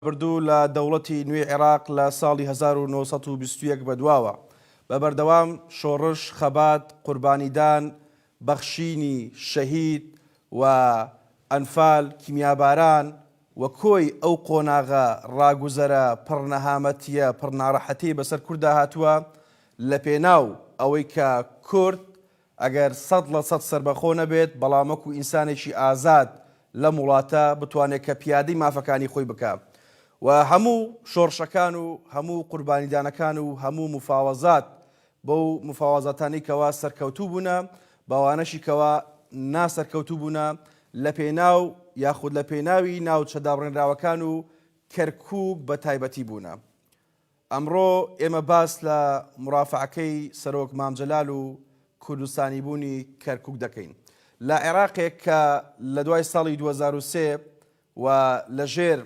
بردو لە دەوڵەتی نوێی عێراق لە ساڵی هەزار و نۆ سەد و بیست و یەک بەدواوە بە بەردەوام شۆڕش، خەبات، قوربانیدان، بەخشینی، شەهید، و، ئەنفال، کیمیاباران، و کۆی ئەو قۆناغە ڕاگوزەرە پڕ نەهامەتیە پڕ ناڕەحەتیەی بەسەر کورددا هاتوە لەپێناو ئەوەی کە کورد ئەگەر سەد لە سەد سەربەخۆ نەبێت، بەڵام وەکو ئینسانێکی ئازاد لەم وڵاتە بتوانێت کە پیادەی مافەکانی خۆی بکا و هەموو شۆڕشەکان و هەموو قوربانیدانەکان و هەموو مفاوەزات بەو مفاوەزاتانەی کەوا سەرکەوتوو بوونە بەوانەشی کەوا نا سەرکەوتوو بوونە لە پێناو یاخود لە پێناوی ناوچە دابڕێنراوەکان و کەرکوک بە تایبەتی بوونە ئەمڕۆ ئێمە باس لە مورافەعەکەی سەرۆک مام جەلال و کوردستانیبوونی کەرکوک دەکەین. لە عێراقێک کە لە دوای ساڵی دوو هەزار و سێ وە لە ژێر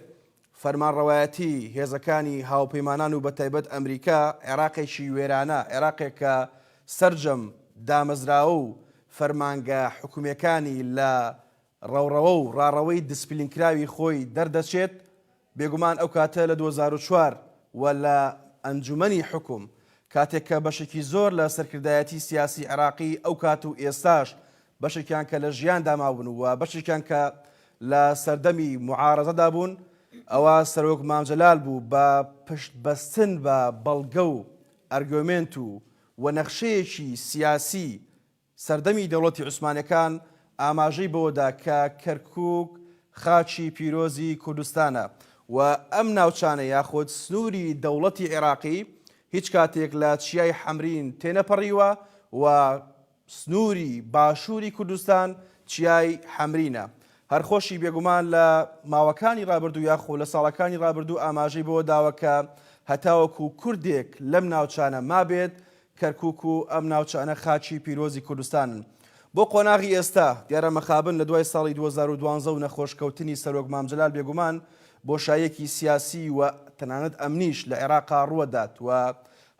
فەرمانڕەوایەتی هێزەکانی هاوپەیمانان و بە تایبەت ئەمریکا عێراقێکی وێرانە، عێراقێک کە سەرجەم دامەزراوە و فەرمانگە حکومیەکانی لە ڕەوڕەوە و ڕاڕەوەی دیسپلینکراوی خۆی دەردەچێت، بێگومان ئەو کاتە لە دوو هەزار و چوار وە لە ئەنجومەنی حوکم، کاتێک کە بەشێکی زۆر لە سەرکردایەتی سیاسی عێراقی ئەو کات و ئێستاش بەشێکیان کە لە ژیاندا ماون و بەشێکیان کە لە سەردەمی موعارەزەدا بوون، ئەوا سەرۆک مام جەلال بوو بە پشت بەستن بە بەڵگە و ئەرگۆمێنت و وە نەخشەیەکی سیاسی سەردەمی دەوڵەتی عوسمانیەکان ئاماژەی بەوەدا کە کەرکوک خاچی پیرۆزی کوردستانە و ئەم ناوچانە یاخود سنوری دەوڵەتی عێراقی هیچ کاتێک لە چیای حەمرین تێنەپەڕیوە و سنوری باشوری کوردستان چیای حەمرینە هەر خۆشی بێگومان لە ماوەکانی ڕابردوو یاخو لە ساڵەکانی ڕابردوو ئاماژەی بەوەداوە کە هەتاوەکو کوردێک لەم ناوچانە مابێت کەرکووک و ئەم ناوچانە خاکی پیرۆزی کوردستانن. بۆ قۆناغی ئێستا، دیارە مەخابن لە دوای ساڵی دوو هەزار و دوازدە و نەخۆش کەوتنی سەرۆک مام جەلال بێگومان بۆشاییەکی سیاسی و تەنانەت ئەمنیش لە عێراقا ڕووە دات و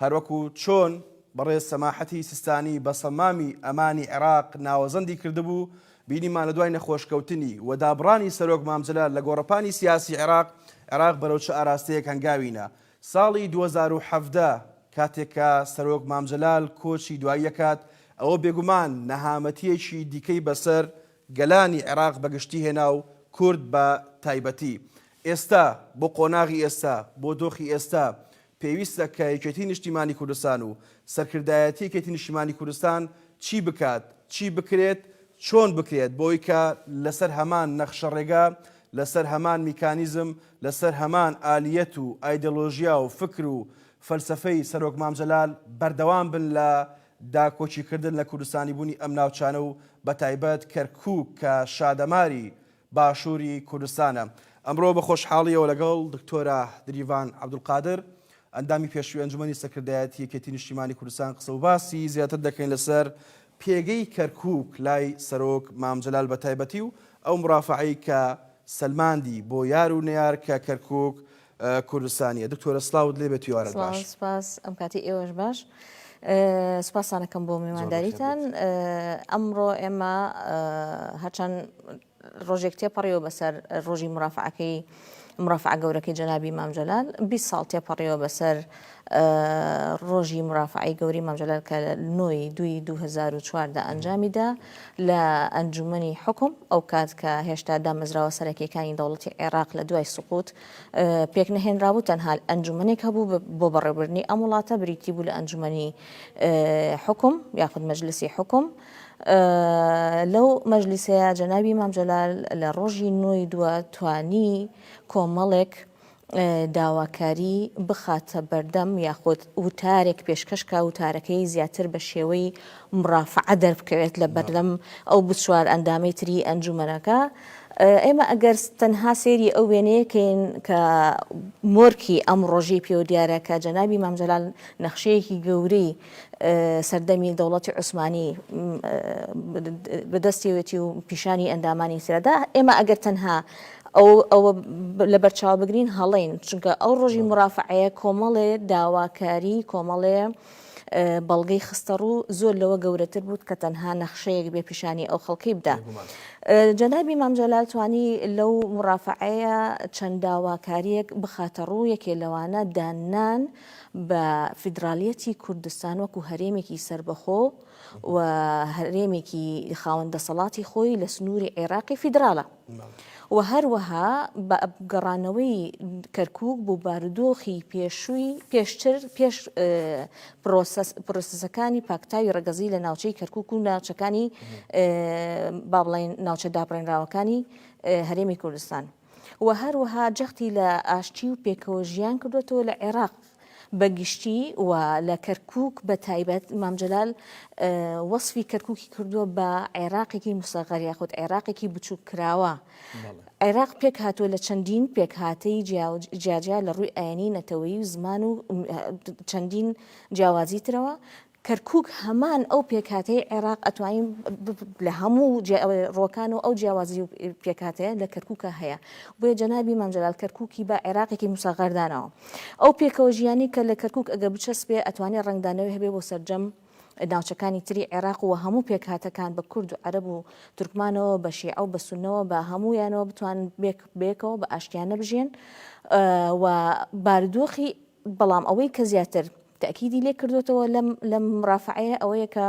هەروەکو چۆن بەڕێز سەماحەتی سیستانی بە سەمامی ئەمانی عێراق ناوەزەندی کردبوو بینیمان لە دوای نەخۆش کەوتنی و دابڕانی سەرۆک مام جەلال لە گۆڕەپانی سیاسی عێراق، عێراق بەرەو چ ئاراستەیەک هەنگاوی نا؟ ساڵی دوو هەزار و حەڤدە کاتێک کە سەرۆک مام جەلال کۆچی دوایی دەکات، ئەوە بێگومان نەهامەتییەکی دیکەی بەسەر گەلانی عێراق بە گشتی هێنا و کورد بە تایبەتی. ئێستا، بۆ قۆناغی ئێستا، بۆ دۆخی ئێستا، پێویستە کە یەکێتیی نیشتیمانی کوردستان و سەرکردایەتی یەکێتیی نیشتیمانی کوردستان چی بکات، چی بکرێت، چۆن بکرێت بۆ ئەوەی کە لەسەر هەمان نەخشەڕێگا، لەسەر هەمان میکانیزم، لەسەر هەمان ئالیەت و ئایدۆلۆژیا و فکر و فەلسەفەی سەرۆک مام جەلال بەردەوام بن لە داکۆکی کردن لە کوردستانی بوونی ئەم ناوچانە و بە تایبەت کەرکوک کە شادەماری باشوری کوردستانە. ئەمڕۆ بە خۆشحاڵیەوە لەگەڵ دکتۆرە دریڤان عەبدولقادر ئەندامی پێشوی ئەنجومەنی سەکردایەتی یەکێتی نیشتیمانی کوردستان قسە وباسی زیاتر دەکەین لەسەر پێگەی کەرکووک لای سەرۆک مام جەلال بە تایبەتی و ئەو مرافەعەی کە سەلماندی بۆ یار و نەیار کە کەرکووک کوردستانیە. دکتۆرە سڵاوت لێ بێت هیوارت باش. سڵاو سپاس ئەم کاتی ئێوەش باش. سپاسانەکەم بۆ میوانداریتان. ئەمڕۆ ئێمە هەرچەند ڕۆژێک تێپەڕیوە بەسەر ڕۆژی مرافەعەکەی مرافەعە گەورەکەی جەنابی مام جەلال بیست ساڵ تێپەڕیوە بەسەر ڕۆژی مرافەعی گەوری مام جەلال کە لە نۆی دوی 2004 دا ئەنجامی دا لە ئەنجومنی حکم ئەو کات کە هێشتا دامەزراوە سەرەکیەکانی دەوڵەتی عێراق لە دوای سقوت پێک نەهێنرابوو تەنها ئەنجومنێک هەبوو بۆ بەڕێبرنی ئەم وڵاتە بریتی بوو لە ئەنجومنی حکم یاخود مەجلسی حکم لەو مەجلیسەیە جەنابی مام جەلال لە ڕۆژی نۆی دووە توانی کۆمەڵێک داواکاری بخاتە بەردەم یاخود وتارێک پێشکەشکە وتارەکەی زیاتر بە شێوەی مڕافعە دەربکەوێت لە بەردەم ئەو بچوار ئەندامی تری ئەنجومەنەکە ئێمە ئەگەر تەنها سێری ئەو وێنەیەکەین کە مۆرکی ئەم ڕۆژی پێوە دیارە کە جەنابی مامجلال نەخشەیەکی گەورەی سەردەمی دەوڵەتی عوسمانی بەدەستیەوێتی و پیشانی ئەندامانی ترەدا ئێمە ئەگەر تەنها ئەوە لە بەرچاو بگرین هەڵین چونکە ئەو ڕۆژی مرافعەیە کۆمەڵێ داواکاری کۆمەڵێ بەڵگەی خستە ڕوو زۆر لەوە گەورەتر بوو کە تەنها نەخشەیەک بێ پیشانی ئەو خەڵکی بدا. جەنابی مامجلال توانی لەو مرافعەیە چەند داواکاریەک بخاتە ڕوو یەکێ لەوانە داننان بە فیدراڵیەتی کوردستان وەکو هەرێمێکی سەربەخۆ و هەرێمێکی خاوەن دەسەڵاتی خۆی لە سنووری عێراقی فیدراڵە و هەروەها بە گەڕانەوەی کەرکک بۆ بارودۆخی پێشووی پێشتر پێش پرۆسەکانی پاکتاوی ڕگەزی لە ناوچەی کەرکک و ناوچەکانی با بڵێن ناوچە دابڕێنراوەکانی هەرێمی کوردستان. و هەروەها جەختی لە ئاشتی و پێکەوە ژیان کردووەتەوە لە عێراق بە گشتی و لە کەرکووک بە تایبەت، مام جەلال وەسفی کەرکووکی کردووە بە عێراقێکی مسەغەر یاخود عێراقێکی بچووککراوە. عێراق پێک هاتووە لە چەندین پێکهاتەی جیاجیا لە ڕووی ئاینی، نەتەوەیی و زمان و چەندین جیاوازی ترەوە، کەرکوک هەمان ئەو پێکهاتەی عێراق ئەتوانین لە هەموو ڕۆکان و ئەو جیاوازی و پێکهاتەیە لە کەرکوکە هەیە بۆیە جەنابی مام جەلال کەرکوکی بە عێراقێکی موسەغەردانەوە ئەو پێکەوە ژیانی کە لە کەرکوک ئەگە بچەسپێ ئەتوانێ ڕەنگدانەوەی هەبێ بۆ سەرجەم ناوچەکانی تری عێراق و هەموو پێکهاتەکان بە کورد و عەرەب و تورکمانەوە بە شیعە و بە سونەوە بە هەموویانەوە بتوان بێک بێکەوە بە ئاشتیانە بژێن و بارودۆخی بەڵام ئەوەی کە زیاتر تەئکیدی لێ کردۆتەوە لەم مورافەعەیە ئەوەیە کە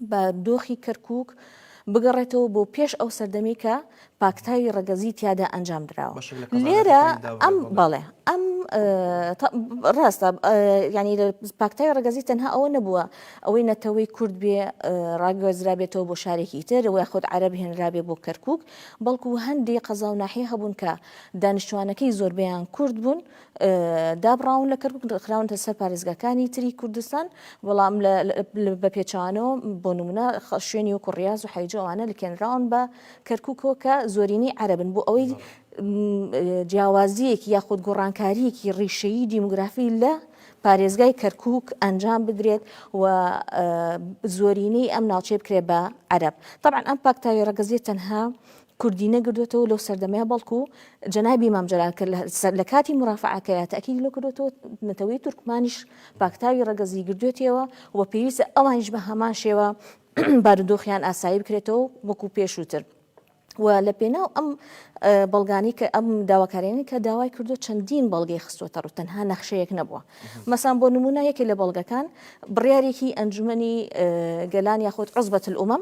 بە دۆخی کەرکک بگەڕێتەوە بۆ پێش ئەو سەردەمی کە پاکتاوی ڕەگەزی تیادا ئەنجام دراوە لێرە ئەم بەڵێ ئەم ڕاستە ینی پاکتای ڕگەزی تەنها ئەوە نەبووە ئەوەی نەتەوەی کورد بێ ڕاگەزرا بێتەوە بۆ شارێکی تر وە خۆت عرب هێنرابێ بۆ کەرکک بەڵکو هەندی قەزا و ناحی هەبوون کە دانیشتوانەکەی زۆربیان کورد بوون دابڕاون لە کەرکوک خراونتە سەر پارێزگاکانی تری کوردستان بەڵام بە پێچوانەوە بۆ نمونە شوێنی وەکو ڕاز و حیجوانە لکێنراون بە کەرکوکۆ کە زۆرینی عربن بۆ ئەوەی جیاوازیەکی یاخود گۆڕانکاریەکی ڕیشەیی دیموگرافی لە پارێزگای کەرکک ئەنجام بدرێت و زۆرینەی ئەم ناوچێ بکرێت بە عرب طبعا ئەم پاکتاوی ڕگەزیێت تەنها کوردی نەگردوەتەوە لەو سەردەمەیا بەڵکو جەنابی مام جەلال کە لە کاتی مرافعەکەیا تەکیدی لۆ کردوەتەوە نەتەوەی تورکمانیش پاکتاوی ڕەگەزی گردوێتیەوە و پێویستە ئەوانیش بە هەمان شێوە بارودۆخیان ئاسایی بکرێتەوە وەکو پێشووتر. و لە پێناو ئەم بەڵگانی کە ئەم داواکارێنی کە داوای کردو چەندین بەڵگەی خستوەتە ڕوو تەنها نەخشەیەک نەبووە مەسان بۆ نمونە یەکێ لە بەڵگەکان بڕیارێکی ئەنجومنی گەلان یاخود عزبەت الامم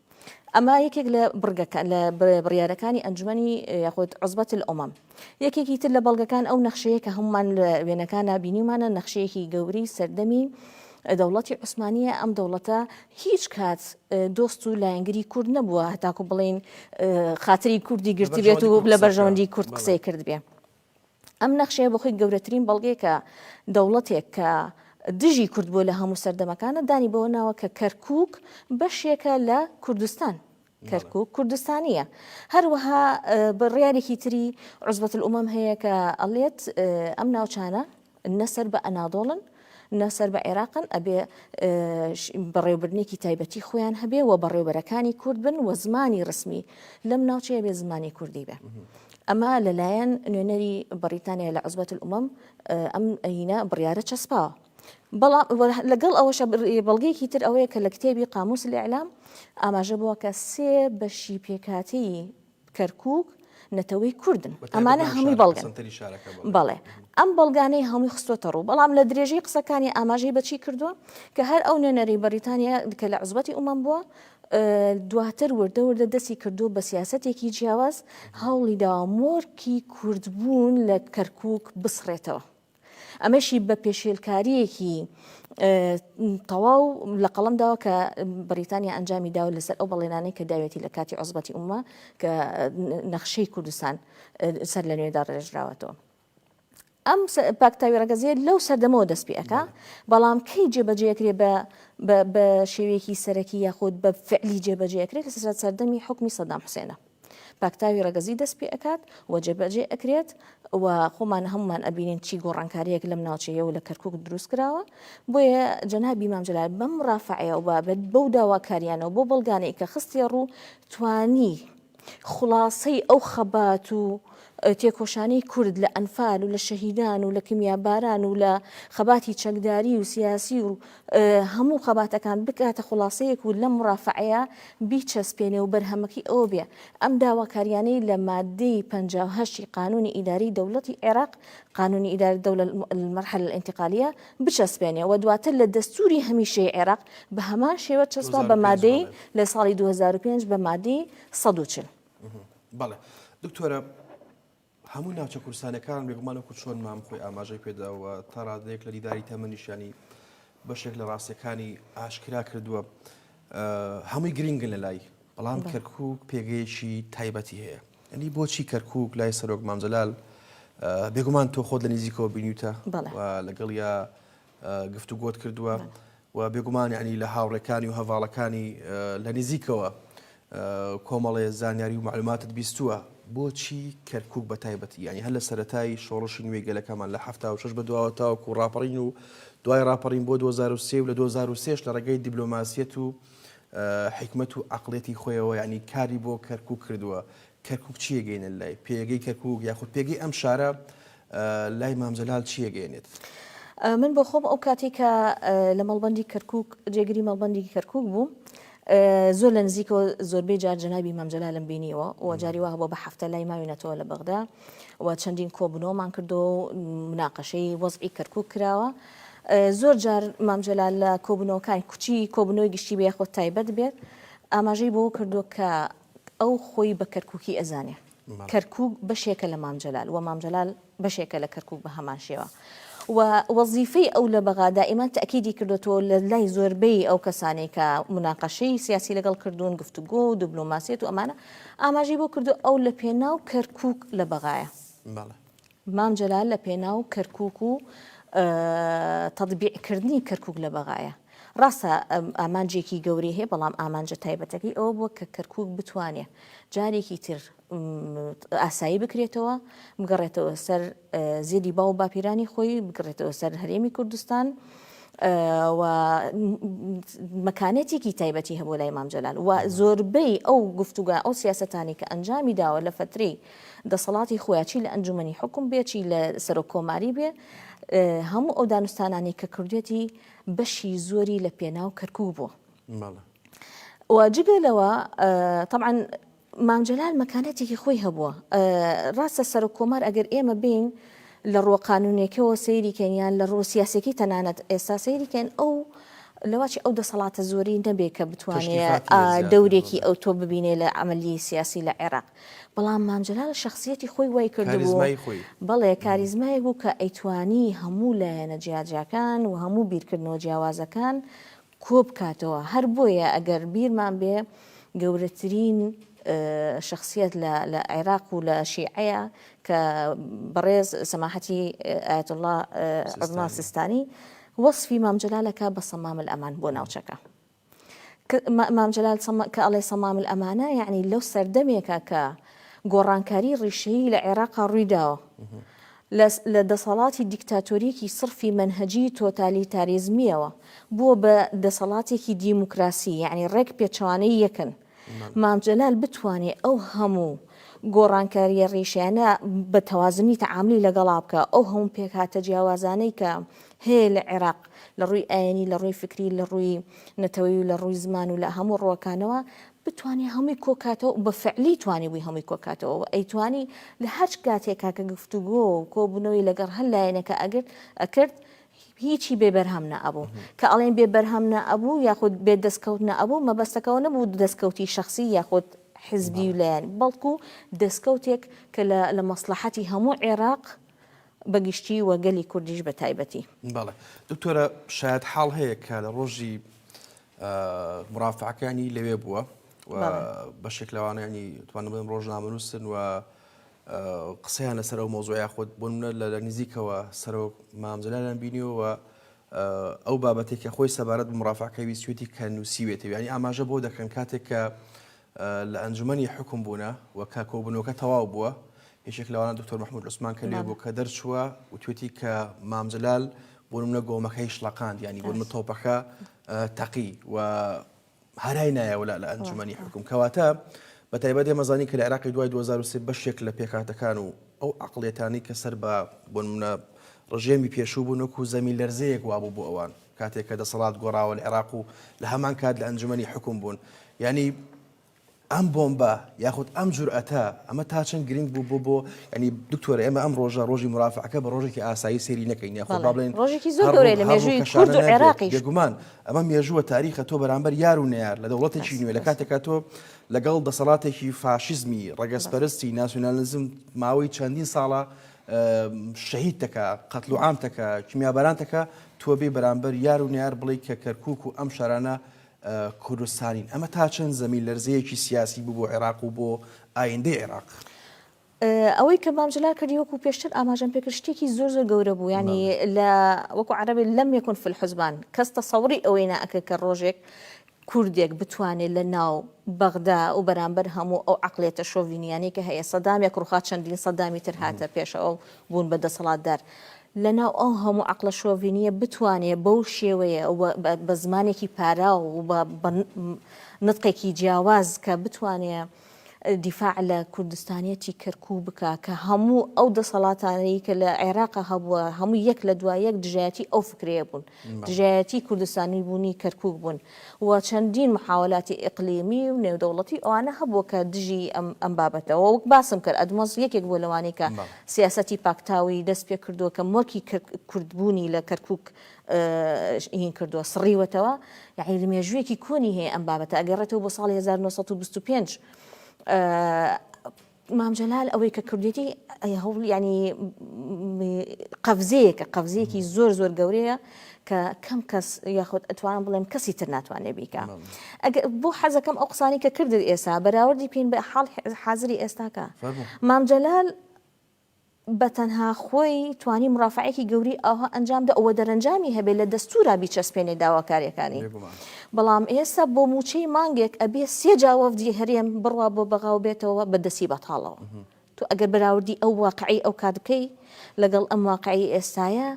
ئەمە یەکێک لە بڕگەکە لە بڕیارەکانی ئەنجومەنی یاخود عزبەت الامم یەکێکی تر لە بەڵگەکان ئەو نەخشەیە کە هەمومان لە وێنەکان نبینیمانە نەخشەیەکی گەوری سەردەمی دەوڵەتی عوسمانیە ئەم دەوڵەتە هیچ کات دۆست و لایەنگری کورد نەبووە هەتاکو بڵین خاتری کوردی گرتی بێت و لە بەرژەوەندی کورد قسەی کرد بێ. ئەم نەخشەیە بە خۆی گەورەترین بەڵگەیە کە دەوڵەتێک کە دژی کورد بووە لە هەموو سەردەمەکانە دانی بەوە ناوە کە کەرکووک بەشێکە لە کوردستان. کەرکووک کوردستانییە. هەروەها بڕیارێکی تری عوزبەتولئومەم هەیە کە ئەڵێت ئەم ناوچانە نە سەر بە ئەنادۆڵن نە سەر بە عێراقن ئەبێ بەڕێوبردنێکی تایبەتی خۆیان هەبێ و بەڕێوبەرەکانی کورد بن و زمانی ڕسمی لەم ناوچەیە بێ زمانی کوردی بێ. ئەمە لەلایەن نوێنەری بەریتانیا لە عزبەت العمەم ئەم ئەینە بڕیارە چەسپاوە. بەڵام لەگەڵ ئەوەشە بەڵگەیەکی تر ئەوەیە کە لە کتێبی قاموس الاعلام ئاماژە بووە کە سێ بەشی پێکهاتەی کەرکوک نەتەوەی کوردن ئەمانە هەموی بەڵگەن بەڵێ ئەم بەڵگانەی هەموی خستۆتە ڕوو بەڵام لە درێژەی قسەکانی ئاماژەی بەچی کردووە کە هەر ئەو نوێنەری بەریتانیا کە لە عزبەتی ئومەم بووە دواتر وردە وردە دەستی کردو بە سیاستێکی جیاواز هەوڵی داوا مۆرکی کوردبوون لە کەرکک بسڕێتەوە. ئەمەشی بە پێشێلکارییەکی تەواو لە قەڵم داوە کە بریتانیا ئەنجامی داوە لەسەر ئەو بەڵێنانەی کە داوێتی لە کاتی عزبەتی ئومە کە نەخشەی کوردستان سەر لە نوێدا ڕێژراوەتەوە. ئەم پاکتاوی ڕگەزیە لەو سەردەمەوە دەست پێەکە بەڵام کەی جێبەجێکرێ بە بە شێوەیەکی سەرەکی یاخود بە فعلی جێبەجێکرێت لە سەردەمی حکومی سەدام حوسێنە. پاکتاوی ڕەگەزی دەست پێ ئەکات و جێبەجێ ئەکرێت و خۆمان هەمومان ئەبینین چی گۆڕانکاریەک لەم ناوچەیە و لە کەرکک دروست کراوە بۆیە جەنابی مامجلال بەم ڕافعەیە و بابەت بەو داواکاریانەوە بۆ بەڵگانەی کە خستی ڕوو توانی خلاصەی ئەو خەبات و تێکۆشانی کورد لە ئەنفال و لە شەهیدان و لە کمیاباران و لە خەباتی چەکداری و سیاسی و هەموو خەباتەکان بکاتە خوڵاسەیەک و لەم مورافەعەیە بیچەسپێنێ و بەرهەمەکەی ئەوە بێ ئەم داواکاریانەی لە ماددەی پەنجا و هەشت ی قانونی ئیداری دەولەتی عێراق، قانون ادارە الدولە المرحلە الانتقالیە، بچەسپێنێ و دواتر لە دەستوری هەمیشەیی عێراق بە هەمان شێوە چەسپا بە مادەی لە ساڵی دوو هەزار و پێنج بە مادەی سەد و چل. بەڵێ دکتۆرە هەموو ناوچە کوردستانەکان بێگومان وەکو چۆن مام خۆی ئاماژەی پێدا و تا ڕادەیەک لە دیداری تەمەنیشانی بەشێک لە ڕاستیەکانی ئاشکرا کردووە هەمووی گرنگن لە لای بەڵام کەرکک پێگەیەکی تایبەتی هەیە ئەنی بۆچی کەرکک لای سەرۆک مامجلال بێگومان تۆ خۆت لە نزیکەوە بینیوتە لەگەڵ یا گفتوگۆت کردووە و بێگومان یعنی لە هاوڕێکانی و هەڤاڵەکانی لە نزیکەوە کۆمەڵێ زانیاری و معلوماتت بیستووە بۆچی کەرکک بە تایبەتی یعنی هەر لە سەتای شۆڕشی نوێی گەلەکەمان لە هەفتا و شش بە دواوە تاوەکو و ڕاپەڕین و دوای ڕاپەڕین بۆ 2023 و لە 2023 لە ڕێگەی دیبلۆماسیەت و حکمت و عقلێتی خۆیەوە یعنی کاری بۆ کەرکک کردووە کەرکک چیەگەینە لای پێگەی کەرکک یاخود پێگەی ئەم شارە لای مام جەلال چی ئەگەیەنێت؟ من بۆ خۆم ئەو کاتەی کە لە مەڵبەندی کەرکووک جێگری مەڵبەندی کەرکووک بووم زۆر لە نزیکەوە زۆربەی جار جەنابی مام جەلالم بینیوە و جاری وا بۆ بە هەفتە لای ماوینەتەوە لە بەغدا و چەندین کۆبنەوەمان کردو و مناقەشەی وەزعی کەرکووک کراوە زۆر جار مام جەلال لە کۆبنەوەکان کوچی کۆبنەوەی گشتی بێ خۆ تایبەت بێت ئاماژەی بۆ کردو کە ئەو خۆی بە کەرکووکی ئەزانێ کەرکوک بەشێکە لە مام جەلال و مام جەلال بەشێکە لە کەرکوک بە هەمان شێوە و وەزیفەی ئەو لە بەغا دائیما تەئکیدی کردۆتەوە لە لای زۆربەی ئەو کەسانەی کە موناقەشەی سیاسی لەگەڵ کردوون گفتوگۆ و دبلۆماسیەت و ئەمانە ئاماژەی بۆ کردووە ئەو لە پێناو کەرکوک لە بەغایە. مام جەلال لە پێناو کەرکوک و تەتبیع کردنی کەرکوک لە بەغایە. ڕاستە ئامانجێکی گەورەی هەیە بەڵام ئامانجە تایبەتەکەی ئەوە بووە کە کەرکوک بتوانێ جارێکی تر ئاسایی بکرێتەوە بگەڕێتەوە سەر زێدی باو و باپیرانی خۆی بگڕێتەوە سەر هەرێمی کوردستان و مەکانێتێکی تایبەتی هەبوو لای مام جەلال و زۆربەی ئەو گفتوگە ئەو سیاستانی کە ئەنجامی داوە لە فترەی دەسەڵاتی خۆیە چی لە ئەنجومەنی حوکم بێ چی لە سەرۆک کۆماری بێ هەموو ئەو دانوستانانی کە کردێتی بەشی زۆری لە پێناو کەرکک بوو واجگە لەوە طبعاان مامجلال مەکانەتێکی خۆی هەبووە ڕاستە سەرۆک کۆمار ئەگەر ئێمە بین لە ڕۆقانونێکەوە سەیری کەنیان لە ڕۆ سیاسەکی تەنانەت ئێستا سەیری کەن ئەو لەواچ ئەو دەسەڵاتە زۆری نەبێ کە بتوانێت دەورێکی ئەو تۆ ببینێ لە ئەمەلی سیاسی لە عێراق بەڵام مام جەلال شەخسیەتی خۆی وای کردبوو، کاریزمای خۆی. بەڵێ کاریزمایەک بوو کە ئەیتوانی هەموو لایەنە جیاجیاکان و هەموو بیرکردنەوە جیاوازەکان کۆ بکاتەوە، هەر بۆیە ئەگەر بیرمان بێ گەورەترین شەخسیەت لە لە عێراق و لە شیعەیە کە بەڕێز سەماحەتی ئایەتوڵڵا عوزما سیستانی وەسفی مام جەلال ئەکا بە صمام الامان بۆ ناوچەکە. مام جەلال سەما کە ئەڵێ صمام الامانە یەعنی لەو سەردەمێکە کە گۆڕانکاری ڕیشەیی لە عێراقا ڕووی داوە لە دەسەڵاتی دیکتاتۆریەکی سڕفی مەنهجی تۆتالیتاریزمیەوە بووە بە دەسەڵاتێکی دیموکراسی یعنی ڕێک پێچوانەی یەکن مام جەلال بتوانێ ئەو هەموو گۆڕانکاریە ڕیشەیانە بە تەوازنی تەعاملی لەگەڵا بکە ئەو هەموو پێکهاتە جیاوازانەی کە هەیە لە عێراق لە ڕووی ئاینی لە ڕووی فکری لە ڕووی نەتەوەی و لە ڕووی زمان و لە هەموو ڕووەکانەوە بتوانێ هەمووی کۆکاتەوە بە فعلی توانی بووی هەمووی کۆکاتەوە و ئەیتوانی لە هەر کاتێکا کە گفتوگۆ و کۆبوونەوەی لەگەڕ هەر لایەنێکە ئەگرت ئەکرد هیچی بێ بەرهەم نەئەبوو. کە ئەڵێین بێ بەرهەم نەئەبوو یاخود بێ دەستکەوت نەئەبوو مەبەستەکە ئەوە نەبوو دەستکەوتی شەخسی یاخود حزبی و لایەنی، بەڵکو دەستکەوتێک کە لە لە مەسڵەحەتی هەموو عێراق بە گشتی و گەلی کوردیش بە تایبەتی. بەڵێ. دکتۆرە شایەتحاڵ هەیە کە لە ڕۆژی مرافعەکانی لەوێ بووە بەشێک لەوانیانی توانم بڵێم ڕۆژنامەنووسن و قسەیان لەسەر ئەو مۆزۆیا خۆت بۆ منە لە لە نزیکەوە سەرۆک مامزلالان بینیەوە ئەو بابەتێکە خۆی سەبارەت بە مرافعەکەوی سوێتی کە نووسیوێتەوە ینی ئاماژە بۆ دەکەن کاتێک کە لە ئەنجومەنی حوکم بوونە و کە کۆبوونەوەکە تەواو بووە، یەکێک لەوانە دکتۆر مەحمود عوسمان کە لێ بوو کە دەرچووە وتوێتی کە مام جەلال بۆنمونە گۆمەکەی شڵەقاند یانی بۆنمە تۆپەکە تەقی و هەرای نایەوە لە ئەنجومەنی حکوم کەواتە بە تایبەت ئێمەزانی کە لە عراقی دوای 2023 بەشێک لە پێکاتەکان و ئەو عقلێتانی کە سەر بە بۆنمونە ڕژێمی پێشوو بوون وەکو زەمی لەرزەیەک وابوو بۆ ئەوان کاتێک کە دەسەڵات گۆڕاوە لە عێراق و لە هەمان کات لە ئەنجومەنی حوکم بوون یانی ئەم بۆمبە یاخود ئەم جورئەتە ئەمە تا چەند گرنگ بوو بۆ بۆ ینی دکتۆر ئێمە ئەم ڕۆژە ڕۆژی مرافعەکە بە ڕۆژێکی ئاسایی سێری نەکەین یاخۆ بڵێن ڕۆژێکی زۆر گەورەی لە مێژووی کورد و عێراقی بێگومان ئەمە مێژووە تاریخە تۆ بەرامبەر یار و نەیار لە دەوڵەتێکی نوێ لە کاتێکا تۆ لەگەڵ دەسەڵاتێکی فاشیزمی ڕەگەزپەرستی ناسیۆنالیزم ماوەی چەندین ساڵە شەهید تەکا، قەتل و عام تەکا، کیمیاباران تەکا، تۆ بێی بەرامبەر یار و نەیار بڵێی کە کەرکووک و ئەم شارانە کوردستانین، ئەمە تا چەند زەمین لەرزەیەکی سیاسی بوو بۆ عێراق و بۆ ئایندەی عێراق؟ ئەوەی کە مام جەلال کردی وەکو پێشتر ئاماژەم پێکرد شتێکی زۆر زۆر گەورە بوو ینی لە وەکو عەرەبێ لەم یەکون فلحزبان کەس تەسەوری ئەوەی ناکرد کە ڕۆژێک کوردێک بتوانێ لە ناو بەغدا و بەرامبەر هەموو ئەو عەقڵیەتە شۆڤینیانەی کە هەیە سەدامێک ڕوخا چەندین سەدامی تر هاتە پێش ئەو بوون بە دەسەڵاتدار لە ناو ئەو هەموو عەقڵە شۆڤینیە بتوانێ بەو شێوەیە و بە زمانێکی پاراو و بە نتقێکی جیاواز کە بتوانێ دیفاع لە کوردستانیەتی کەرکوک بکا کە هەموو ئەو دەسەڵاتانەی کە لە عێراقا هەبووە هەموو یەک لە دوا یەک دژایەتی ئەو فکرەیە بوون دژایەتی کوردستانی بوونی کەرکوک بوون و چەندین محاولاتی ئقلیمی و نێودەوڵەتی ئەوانە هەبووە کە دژی ئەم ئەم بابەتەوە وەک باسم کرد ئەدمۆز یەکێک بۆ لەوانەی کە سیاستی پاکتاوی دەست پێ کردووە کە مۆرکی کوردبوونی لە کەرکوک ی کردووە سڕیوەتەوە یاعنی لە مێژوویەکی کۆنی هەیە ئەم بابەتە ئەگەڕێتەوە بۆ ساڵی 1925 مام جەلال ئەوەی کە کردێتی هەوڵ ینی قەفزەیەکە قەفزەیەکی زۆر زۆر گەورەیە کە کەم کەس یاخود ئەتوانم بڵێم کەسی تر ناتوانێت بیکە بۆ حەزەکەم ئەو قسانی کە کردت ئێسا بەراوردی پێین بە حاڵ حاضری ئێستاکە مام جەلال بە تەنها خۆی توانی مرافەعەیەکی گەورەی ئاوها ئەنجام دا و دەرەنجامی هەبێ لە دەستورا بیچەسپێنێ داواکاریەکانی. بەڵام ئێستا بۆ موچەی مانگێک ئەبێ سێ جا وەفدی هەرێم بڕوا بۆ بەغا و بێتەوە بە دەسی بەتاڵەوە. تۆ ئەگەر بەراوردی ئەو واقعەی ئەو کات بکەی لەگەڵ ئەم واقعەی ئێستایە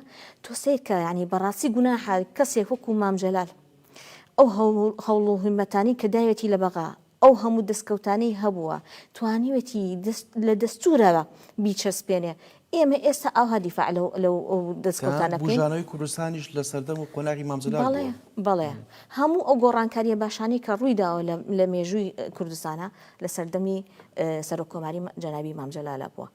تۆ سەیر کە یانی بەڕاستی گوناحە کەسێک وەکو مام جەلال ئەو هەوڵ و هیمەتانی کە داوێتی لە بەغا ئەو هەموو دەستکەوتانەی هەبووە توانیوێتی دەست لە دەستوورەوە بیچەسپێنێ، ئێمە ئێستا ئاوها دیفاع لەو لەو کە دەستکەوتانە بکەین؟ بوژانەوەی کوردستانیش لە سەردەم و قۆناغی مام جەلال بەڵێ بووە. بەڵێ، هەموو ئەو گۆڕانکارییە باشانەی کە ڕووی داوە لە لە مێژووی کوردستانا لە سەردەمی سەرۆک کۆماری جەنابی مام جەلالا بووە.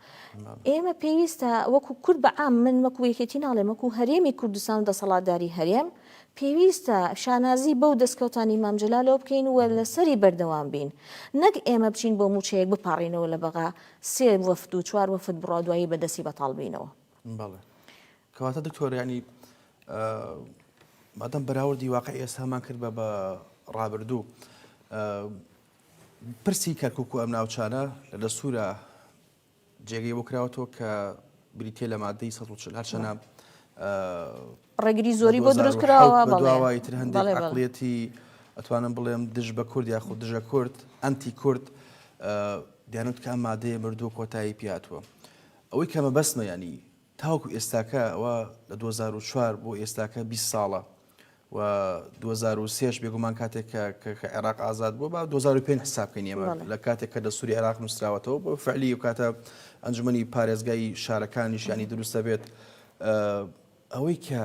ئێمە پێویستە وەکوو کورد بە عام من وەکوو یەکێتی ناڵێم وەکوو هەرێمی کوردستان و دەسەڵاتداری هەرێم، پێویستە شانازی بەو دەستکەوتانی مام جەلالەوە بکەین و لەسەری بەردەوام بین. نەک ئێمە بچین بۆ مووچەیەک بپاڕینەوە لە بەغا سێ وەفد و چوار وەفد بڕا دوایی بە دەستی بەتاڵ بینەوە. بەڵێ. کەواتە دکتۆر یانی مادەم بەراوردی واقعی ئێستامان کرد بە بە ڕابردوو پرسی کەرکک و ئەم ناوچانە لە دەستورە جێگەی بۆ کراوەتەوە کە بریتیە لە مادەی سەد و چل هەرچەنە ڕێگری زۆری بۆ دروست کراوە بەڵێ تر هەندێک عقلەتی ئەتوانم بڵێم دژ بە کورد یاخود دژە کورد ئەنتی کورد دیانوت کە ئەم مادەیە مردووە کۆتایی پیاتوە ئەوەی کەمە بەسمە ینی تاوەکو ئێستاکە وا لە دوو هەزار و چوار بۆ ئێستاکە بیست ساڵە و دوو هەزار و سێش بێگومان کاتێک کە کە کە عێراق ئازاد بووە با دوو هەزار و پێنج حساب بکەین ئێمە بەڵێ. لە کاتێک کە دەستووری عێراق نووسراوەتەوە بۆ فەعلی و کاتە ئەنجومەنی پارێزگای شارەکانیش یانی دروست دەبێت ئە، ئەوەی کە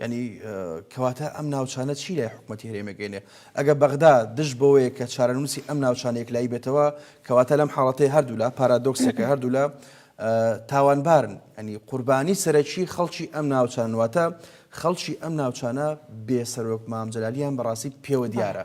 یانی کەواتە ئەم ناوچانە چی لای حکومەتی هەرێمە گەینێ ئەگە بەغدا دژ بەوەیە کە چارەنووسی ئەم ناوچانە یەکلایی بێتەوە کەواتە لەم حاڵەتەی هەردوولا پارادۆکسێکە هەردوولا تاوانبارن ئەنی قوربانی سەرەکی خەڵکی ئەم ناوچانواتە خەڵکی ئەم ناوچانە بێ سەرۆک مامجلالیان بەڕاستی پێوە دیارە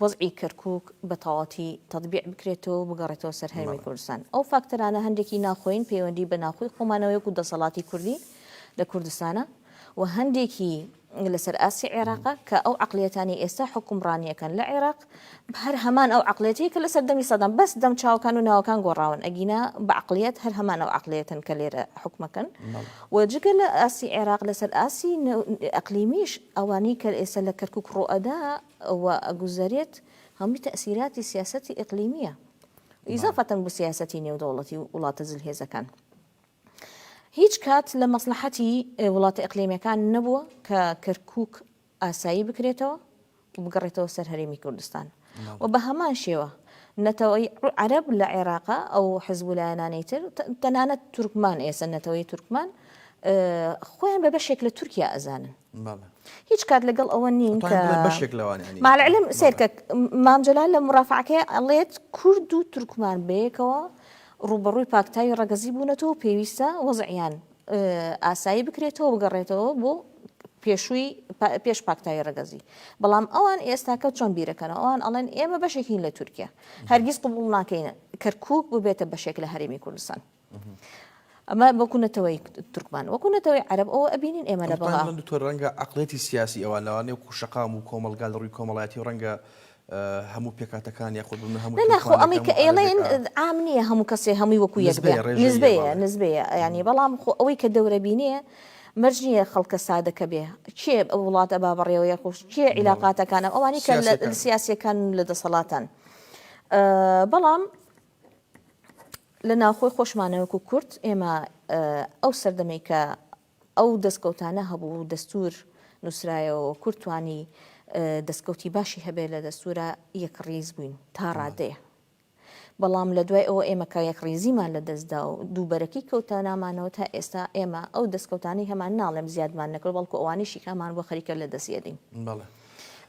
وەزعی کەرکوک بە تەواوەتی تەتبیع بکرێتەوەو بگەڕێتەوە سەر هەرێمی کوردستان. ئەو فاکتەرانە هەندێکی ناخۆیین پەیوەندی بە ناخۆی خۆمانەوە یەکو دەسەڵاتی کوردی لە کوردستانە و هەندێکی لەسەر ئاستی عێراقە کە ئەو عەقلیەتانەی ئێستا حوکمڕانیەکەن لە عێراق هەر هەمان ئەو عەقلیەتەی کە لە سەردەمی سەدام بەس دەم چاوەکان و ناوەکان گۆڕاون ئەگینا بە عەقلیەت هەر هەمان ئەو عەقلیەتەن کە لێرە حوکمەکەن و جگە لە ئاستی عێراق لەسەر ئاستی ئەقلیمیش ئەوانەی کە ئێستا لە کەرکوک ڕوئەدا ئەوە ئەگوزەرێت هەمووی تەئسیراتی سیاسەتی ئیقلیمیە ئیزافەتەن بە سیاسەتی نێودەوڵەتی و وڵاتە زلهێزەکان هیچ کات لە مەسلحەتی وڵاتە ئەقلیمەکان نەبووە کە کەرکک ئاسایی بکرێتەوە و بگەڕێتەوە سەر هەرێمی کوردستان و بە هەمان شێوە نەتەوەی عرب لە عێراقا ئەو حزب و لایەنانەی تر تەنانەت تورکمان ئێسە نەتەوەی تورکمان خۆیان بە بەشێک لە تورکیا ئەزانن بەڵێ. هیچ کات لەگەڵ ئەوە نین کە. ئەتوانین بڵێین بەشێک لەوانە ئەنیە. مع العلم سەیرکە مام جەلال لە مورافەعەکەی ئەڵێت کورد و تورکمان بەیەکەوە ڕووبەڕووی پاکتاوی ڕەگەزی بوونەتەوە پێویستە وەزعیان ئاسایی بکرێتەوە بگەڕێتەوە بۆ پێشووی پێش پاکتاوی ڕگەزی بەڵام ئەوان ئێستاکە چۆن بیرەکەنەوە ئەوان ئەڵێن ئێمە بەشێکین لە تورکیا هەرگیز قبول ناکەین کەرکک ببێتە بەشێک لە هەرێمی کوردستان ئەمە وەکو نەتەوەی تورکمان وەکو نەتەوەی عەرەب ئەوە ئەبینین ئێمە لە بەڵا من دکتۆر ڕەنگە عەقڵێتی سیاسی ئەوە لەوانەیە وەکو شەقام و کۆمەڵگا لە ڕووی کۆمەڵایەتی و ڕەنگە هەموو پێکاتەکان یاخود بمە هەموو ناخۆ ئەمە کە ئێڵێن عام نییە هەموو کەسێ هەمووی وەکو یەک نزبەیە نزبەیە ینی بەڵام خۆ ئەوەی کە دەورە بینێ مەرج نییە خەڵکە سادەکە بێ کێ ئەو وڵاتە با بەڕێوە یە خۆش کێ عیلاقاتەکانە ئەوانی کە سیاسەکان لە دەسەڵاتان بەڵام لە ناوخۆی خۆشمانە وەکو کورد ئێمە ئەو سەردەمەی کە ئەو دەستکەوتانە هەبوو و دەستور نووسرایەوە کورد توانی دەستکەوتی باشی هەبێت لە دەستورە یەک ڕیز بووین تا ڕادەیە بەڵام لە دوای ئەوە ئێمە کە یەک ڕیزیمان لە دەستدا و دووبەرەکی کەوتە نامانەوە تا ئێستا ئێمە ئەو دەستکەوتانی هەمان ناڵێم زیادمان نەکرد بەڵکو ئەوانیشی کامان بۆ خەریکە لە دەستێدین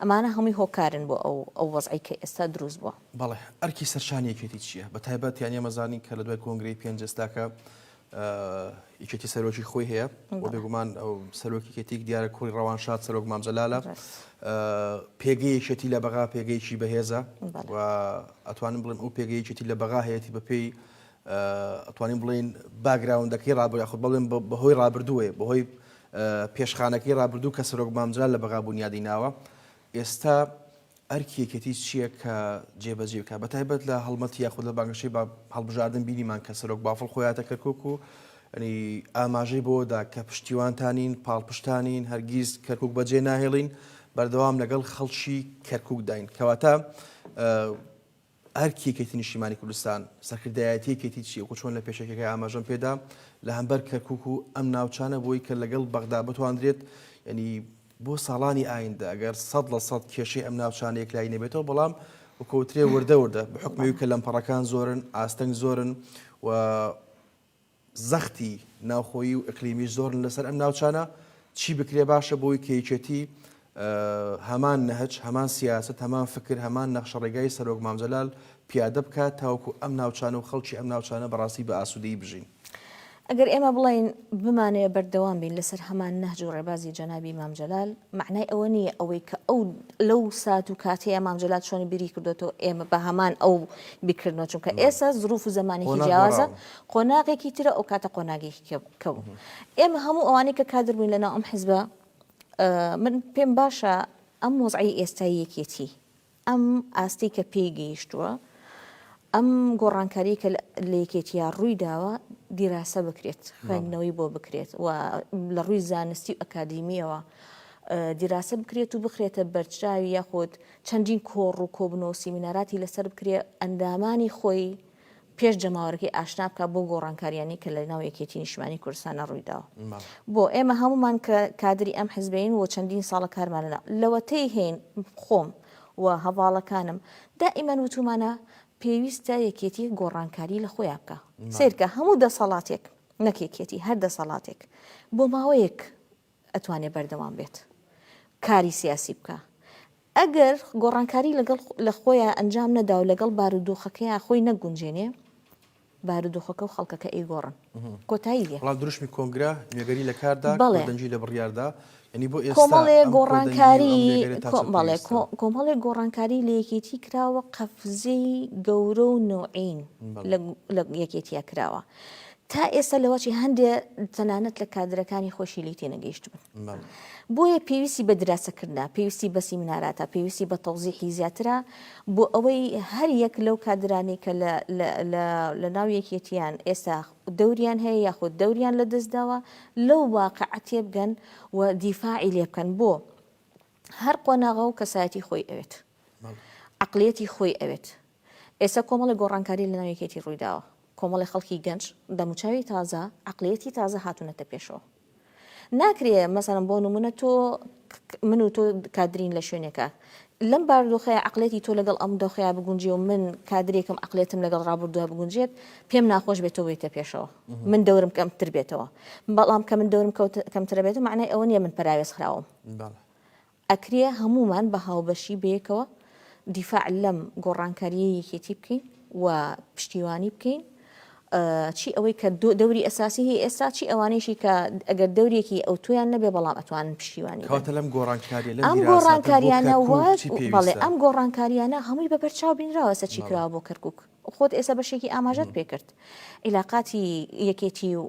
ئەمانە هەمووی هۆکارن بۆ ئەو ئەو وەزعی کە ئێستا دروست بووە. بەڵێ، ئەرکی سەرشانی یەکێتی چییە؟ بە تایبەت یانی ئێمە زانین کە لە دوای کۆنگرەی پێنجەس تاکە یەکێتی سەرۆکی خۆی هەیە و بێگومان ئەو سەرۆکی یەکێتیک دیارە کوڕی ڕەوانشاد سەرۆک مام جەلالە پێگەی یەکێتی لە بەغا پێگەیەکی بەهێزە و ئەتوانم بڵێم ئەو پێگەی یەکێتی لە بەغا هەیەتی بەپێی ئەتوانین بڵین باگراوندەکەی ڕابوو یاخود بڵێم بەهۆی ڕابردووێ بەهۆی پێشخانەکەی ڕابردوو کە سەرۆک مامجلال لە بەغا بوونیادی ناوە ئێستا ئەرکی یەکێتی چییە کە جێبەجێ بکات؟ بەتایبەت لە هەڵمەتی یاخود لە بانگەشەی هەڵبژاردن بینیمان کە سەرۆک بافڵ خۆی هاتە کەرکوک و ئاماژەی بۆدا کە پشتیوانتانین پاڵپشتانین هەرگیز کەرکک بەجێ ناهێڵین بەردەوام لەگەڵ خەڵکی کەرککداین کەواتە ئەرکی یەکێتی نیشتیمانی کوردستان، سەرکردایەتی یەکێتی چییە؟ وەکو چۆن لە پێشەکیەکەی ئاماژەم پێدا لە هەمبەر کەرکوک و ئەم ناوچانە بۆی کە لەگەڵ بەغدا بتواندرێت یەنی بۆ ساڵانی ئایندە ئەگەر سەد لە سەد کێشەی ئەم ناوچانە یەکلایی نەبێتەوە بەڵام وەکوترێ وردە وردە بە حکمەوی کە لەمپەڕەکان زۆرن ئاستەنگ زۆرن و زەختی ناوخۆیی و ئیقلیمیش زۆرن لەسەر ئەم ناوچانە، چی بکرێ باشە بۆوەی کە یەکێتی هەمان نەهج، هەمان سیاسەت، هەمان فکر، هەمان نەخشەڕێگای سەرۆک مام جەلال پیادە بکات تاوەکو ئەم ناوچانە و خەڵکی ئەم ناوچانە بەڕاستی بە ئاسوودەیی بژین. ئەگەر ئێمە بڵێین بمانەوێ بەردەوام بین لەسەر هەمان نەهج و ڕێبازی جەنابی مام جەلال، مەعنای ئەوە نییە ئەوەی کە ئەو لەو سات و کاتەیە مام جەلال چۆنی بیری کردۆتەوە ئێمە بە هەمان ئەو بیکردنەوە چونکە ئێستا زروف و زەمانێکی جیاوازە قۆناغێکی ترە ئەو کاتە قۆناگێکی کەوو ئێمە هەموو ئەوانەی کە کادر بووین لەناو ئەم حزبە من پێم باشە ئەم وەزعی ئێستای یەکێتی ئەم ئاستی کە پێی گەیشتووە ئەم گۆڕانکاری کە لە یەکێتیا ڕووی داوە دیراسە بکرێت خوێندنەوەی بۆ بکرێت و لە ڕووی زانستی و ئەکادیمیەوە دیراسە بکرێت و بخرێتە بەرچاوی یاخود چەندین کۆڕ و کۆبنەوە و سیمیناراتی لەسەر بکرێ، ئەندامانی خۆی پێش جەماوەرەکەی ئاشنا بکا بەو گۆڕانکارییانەی کە لە ناو یەکێتیی نیشتمانیی کوردستانە ڕووی داوە. بۆ؟ ئێمە هەموومان کە کادری ئەم حزبەین و چەندین ساڵە کارمان لە ناو، لەوەتەی هەین، خۆم و هەڤاڵەکانم، دائیمەن وتوومانە، پێویستە یەکێتیی گۆڕانکاری لە خۆیا بکا. سەیرکە، هەموو دەسەڵاتێک، نەک یەکێتی، هەر دەسەڵاتێک، بۆ ماوەیەک ئەتوانێ بەردەوام بێت کاری سیاسی بکا ئەگەر گۆڕانکاری لەگەڵ لە خۆیان ئەنجام نەدا و لەگەڵ بارودۆخەکەیان خۆی نەگونجێنێ بارودۆخەکە و خەڵکەکە ئەی گۆڕن کۆتایی لێ بەڵام دروشمی کۆنگرە نوێگەری لە کاردا بەڵێ دەنگی لە بڕیاردا ینی بۆ ئێستا کۆمەڵێ گۆڕانکاری بەڵێ کۆمەڵێ گۆڕانکاری لە یەکێتی کراوە قەفزەی گەورە و نوعین لە یەکێتیا کراوە تا ئێستا لەوەچی هەندێ تەنانەت لە کادرەکانی خۆشی لێی تێنەگەیشتبن. بۆیە پێویستی بە دراسەکردنە، پێویستی بە سیمیناراتە، پێویستی بە تەوزیحی زیاترە بۆ ئەوەی هەر یەک لەو کادرانەی کە لە ناو یەکێتییان ئێستا دەوریان هەیە یاخود دەوریان لەدەستداوە لەو واقعە تێبگەن و دیفاعی لێبکەن بۆ هەر قۆناغە و کەسایەتی خۆی ئەوێت عقلەتی خۆی ئەوێت ئێستا کۆمەڵی گۆڕانکاری لە ناویکێتی ڕوویداوە کۆمەڵی خەڵکی گەنج دەموچاوی تازە عقلەتی تازە هاتوونەتە پێشەوە ناکرێ مەسەرم بۆ نمونە تۆ من و تۆ کادرین لە شوێنێکە لەم باردۆخەیە عقلێتی تۆ لەگەڵ ئەم دۆخەیە بگونجێ و من کادرێکم عقلێتم لەگەڵ ڕابردووە بگونجێت پێم ناخۆش بێت بێتە پێشەوە من دەورم کەمتر بێتەوە بەڵام کە من دەورم کەمترە بێت و معنای ئەوە نیە من پراوێز خراوم بەڵێ. ئەکرێ هەموومان بە هاوبەشی بەیەکەوە دیفاع لەم گۆڕانکارییەی یەکێتی بکەین و پشتیوانی بکەین، چی ئەوەی کە دەوری ئەساسی هەیە ئێستا، چی ئەوانەیشی کە ئەگەر دەورێکی ئەوتۆیان نەبێ بەڵام ئەتوانن پشتیوانی بن. کەواتە لەم گۆڕانکارییە، لەم دیراساتە بۆ کەرکووک چی پێویستە؟ ئەم گۆڕانکارییانە هەمووی بە بەرچاو بینراوە ئێستا چی کراوە بۆ کەرکووک. خۆت ئێستا بەشێکی ئاماژەت پێکرد ئیلاقاتی یەکێتی و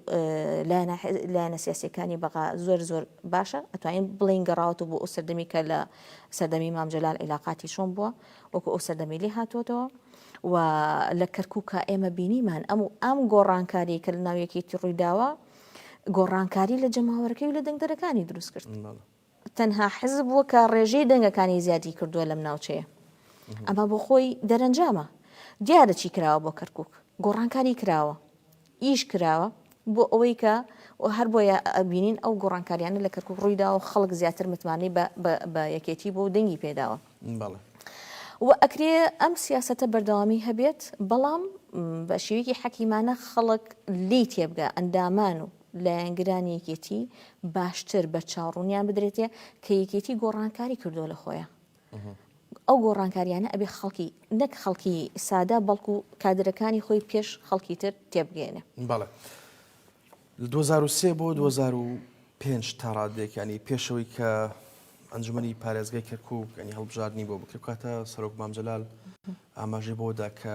لایەنە سیاسەکانی بەغا زۆر زۆر باشە ئەتوانین بڵین گەڕاوەت بۆ ئەو سەردەمی کە لە سەردەمی مامجلال عیلاقاتی چۆن بووە وەکو ئەو سەردەمی لێ هاتووەتەوە و لە کەرکووکە ئێمە بینیمان ئەم و ئەم گۆڕانکاری کە لە ناویەکێتی ڕوویداوە گۆڕانکاری لە جەماوەەکەی و لە دەنگدەرەکانی دروست کرد. تەنها حزب بووە کە ڕێژەی دەنگەکانی زیادی کردووە لەم ناوچەیە. ئەمە بۆ خۆی دەرەنجامە. دیارە چی کراوە بۆ کەرکووک. گۆڕانکاری کراوە. ئیش کراوە بۆ ئەوەی کە هەر بۆیە ئەبینین ئەو گۆڕانکاریانە لە کەرکووک ڕووی داوە و خەڵک زیاتر متمانەی بە یەکێتی بووە و دەنگی پێ داوە. وە ئەکرێ ئەم سیاسەتە بەردەوامی هەبێت، بەڵام بە شێوەیەکی حەکیمانە خەڵک لێی تێبگا، ئەندامان و لایەنگرانی یەکێتی باشتر بە چاو ڕونیان بدرێتێ کە یەکێتی گۆڕانکاری کردو لە خۆیە ئەو گۆڕانکاریانە ئەبێ خەڵکی نەک خەڵکی سادە بەڵکو کادرەکانی خۆی پێش خەڵکی تر تێبگەێنێ بەڵێ 2023 بۆ 2005 تا ڕادێکانی پێشەوەی کە ئەنجومی پارێزگای کەرکک ئەنی هەڵبژاردننی بۆ بکرکاتە سەرۆک مامجلال ئاماژی بۆدا کە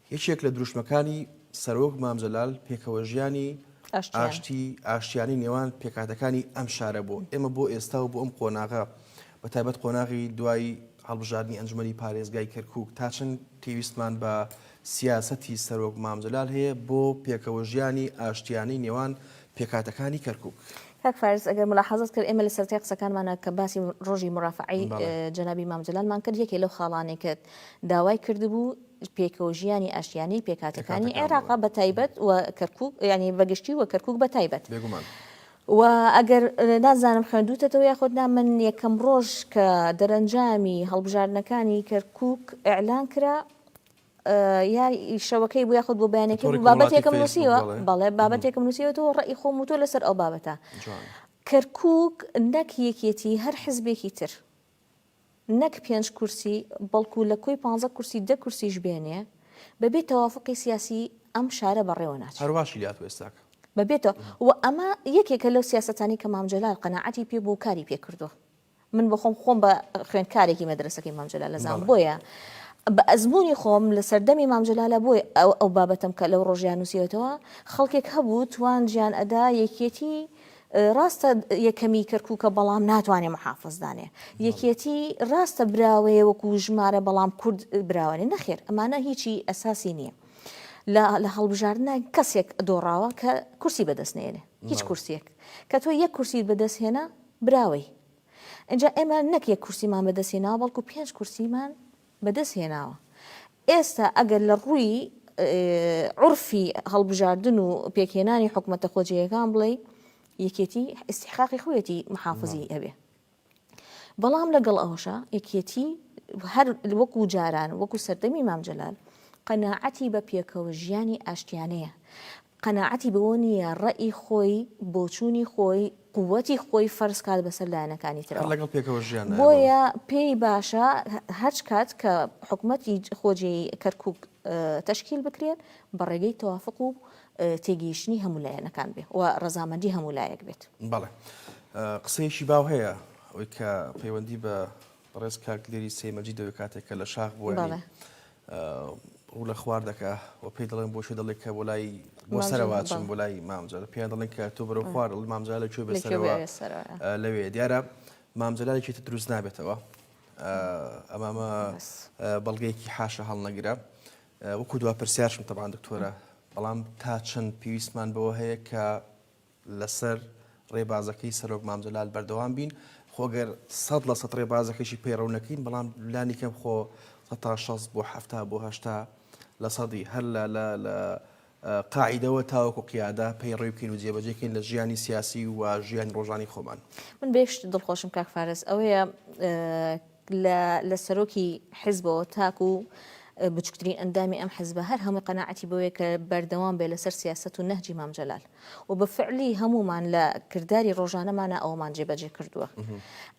یەکێک لە دروشمەکانی سەرۆک مام جەلال پێکەوەژیانی ئاشتی ئاشتیانی نێوان پێکهاتەکانی ئەم شارە بوو. ئێمە بۆ ئێستا و بۆ ئەم قۆناغە بە تایبەت قۆناغی دوای هەڵبژاردنی ئەنجومەنی پارێزگای کەرکوک تا چەند پێویستمان بە سیاسەتی سەرۆک مام جەلال هەیە بۆ پێکەوەژیانی ئاشتیانی نێوان پێکهاتەکانی کەرکوک. کاک فارس ئەگەر مولاحازەت کرد ئێمە لە سەرەتای قسەکانمانا کە باسی ڕۆژی مورافەعەی جەنابی مام جەلالمان کرد یەکێ لەو خاڵانەی کە داوای کردبوو پێکەوەژیانی ئاشتیانەی پێکهاتەکانی عێراق بە تایبەت و کەرکوک یعنی بەگشتی و کەرکوک بە تایبەت. بێگومان. و ئەگەر نازانم خوێندوتەتەوە یاخود نا من یەکەم ڕۆژ کە دەرەنجامی هەڵبژاردنەکانی کەرکوک ئیعلان کرا یا شەوەکەی بوو یاخود بۆ بەیانەکەی بوو بابەتێکم نووسیوە بەڵێ بابەتێکم نووسیوەەوە ڕێی خۆم و تۆ لەسەر ئەو بابەتە کەرکک نەک یەکێتی هەر حزبێکی تر نەک پێنج کورسی بەڵکو لە کۆی پانزە کورسی دە کورسیش بێنێ بەبێ تەوافوقی سیاسی ئەم شارە بەڕێوە ناچێ. هەروا شی هاتوە ئێستاکە. بەبێتە و ئەمە یەکێکە لەو سیاسەتانەی کە مام جەلال قەناعەتی پێ بوو و کاری پێ کردوە. من بۆخۆم خۆم بە خوێندکارێکی مەدرەسەکەی مام جەلال ئەزانم بۆیە بە ئەزمونی خۆم لە سەردەمی مام جەلالە بۆیە ئەو بابەتەم کە لەو ڕۆژەیا نوسیوەتەوە خەڵکێک هەبوو توانجیان ئەدا یەکیەتی ڕاستە یەکەمی کەرکووکە بەڵام ناتوانێ محافز دانێ یەکێتی ڕاستە براوەیە وەکو ژمارە بەڵام کورد براوانێ نەخێر ئەمانە هیچی ئەساسی نییە. لە هەڵبژاردنە کەسێک دۆڕاوە کە کورسی بەدەست نێنێ هیچ کورسێک کە تۆ یەک کورسی بەدەست هێنا براوەی اینجا ئێمە نەک یەک کورسیمان بەدەستێناوە بەڵکو پێنج کورسیمان بەدەست هێناوە ئێستا ئەگەر لە ڕووی عورفی هەڵبژاردن و پێکهێنانی حکومەتە خۆجێیەکان بڵێی یەکێتی ئیسیحقاقی خۆیەتی محافزی ئەبێ بەڵام لەگەڵ ئەوشە یەکێتی هەر وەکو جاران وەکو سەردەمی مامجلال قەنەعەتی بە پێکەوە ژیانی ئاشتیانەیە قەناعەتی بەوە نییە ڕەئی خۆی، بۆچوونی خۆی، قووتی خۆی فەرز کات بەسەر لایەنەکانی هەر ترەوە. لەگەڵ پێکەوە ژیان نایە بۆ. بۆیە پێی باشە هەچ کات کە حکومەتی خۆجێی کەرکووک تەشکیل بکرێت بە ڕێگەی تەوافق و تێگەیشتنی هەموو لایەنەکان بێ و ڕەزامەندی هەموو لایەک بێت. بەڵێ. قسەیەکی باو هەیە ئەوەی کە پەیوەندی بە بەڕێز کاک لێری سەی مەجید دەوێ کاتێک کە لە شاخ بووە یانی ڕوو لە خوار دەکا و پێی دەڵێن بۆ شوێ دەڵێ کە بۆ لای بۆ سەرەوە چم بۆ لای مامجار پێیان دەڵێن کە تۆ بەرەو خوار دڵ مامجار لە کوێ بێ سەرەوە لەوێ دیارە مامجلالێکی تە دروست نابێتەوە ئەمامە بەڵگەیەکی حاشە هەڵنەگرە وەکو دوا پرسیارشم تەبان دکتۆرە بەڵام تا چەند پێویستمان بەوە هەیە کە لەسەر ڕێبازەکەی سەرۆک مام جەلال بەردەوام بین، خۆ گەر سەد لە سەد ڕێبازەکەشی پەیڕەو نەکەین، بەڵام لانی کەم خۆ سەد تا شەست بۆ حەفتا بۆ هەشتا لە سەدی هەر لە لە لە قاعیدەوە تاوەکو قیادە پەیڕەوی بکەین و جێبەجێ کەین لە ژیانی سیاسی و ژیانی ڕۆژانی خۆمان. من بە یەک شت دڵخۆشم کاک فارس ئەوەیە، لە سەرۆکی حزبەوە تاکو بچوکترین ئەندامی ئەم حزبە هەر هەمووی قەناعەتی بەوەیە کە بەردەوام بێ لەسەر سیاسەت و نەهجی مام جەلال و بە فعلی هەموومان لە کرداری ڕۆژانەمانە ئەوەمان جێبەجێ کردووە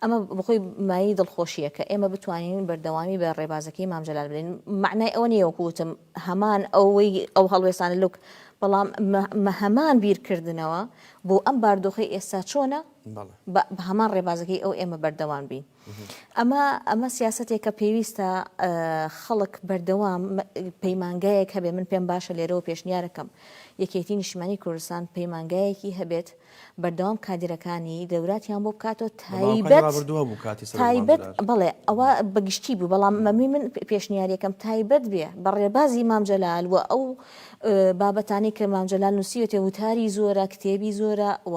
ئەمە بخۆی مایەی دڵخۆشیە کە ئێمە بتوانین بەردەوامی بە ڕێبازەکەی مام جەلال بدەین معنای ئەوە نیە وەکوتم هەمان ئەوەی ئەو هەڵوێستانە لوک بەڵام هەمان بیرکردنەوە بۆ ئەم باردۆخی ئێستا چۆنە بە هەمان ڕێبازەکەی ئەو ئێمە بەردەوام بین ئەمە ئەمە سیاسەتێکە پێویستە خەڵک بەردەوام پەیمانگایەک هەبێ من پێم باشە لێرەوە پێشنیارەکەم یەکێتی نیشمانی کوردستان پەیمانگایەکی هەبێت بەردەوام کادرەکانی دەوراتیان بۆ بکاتەوە تایبەت بڵێ ئەوە بەگشتی بوو بەڵام مەمی من پێشنیارەکەم تایبەت بێ بە ڕێبازی مامجلال و ئەو بابەتانی کە مامجلال نووسیوێتێ وتاری زۆرە کتێبی زۆرە و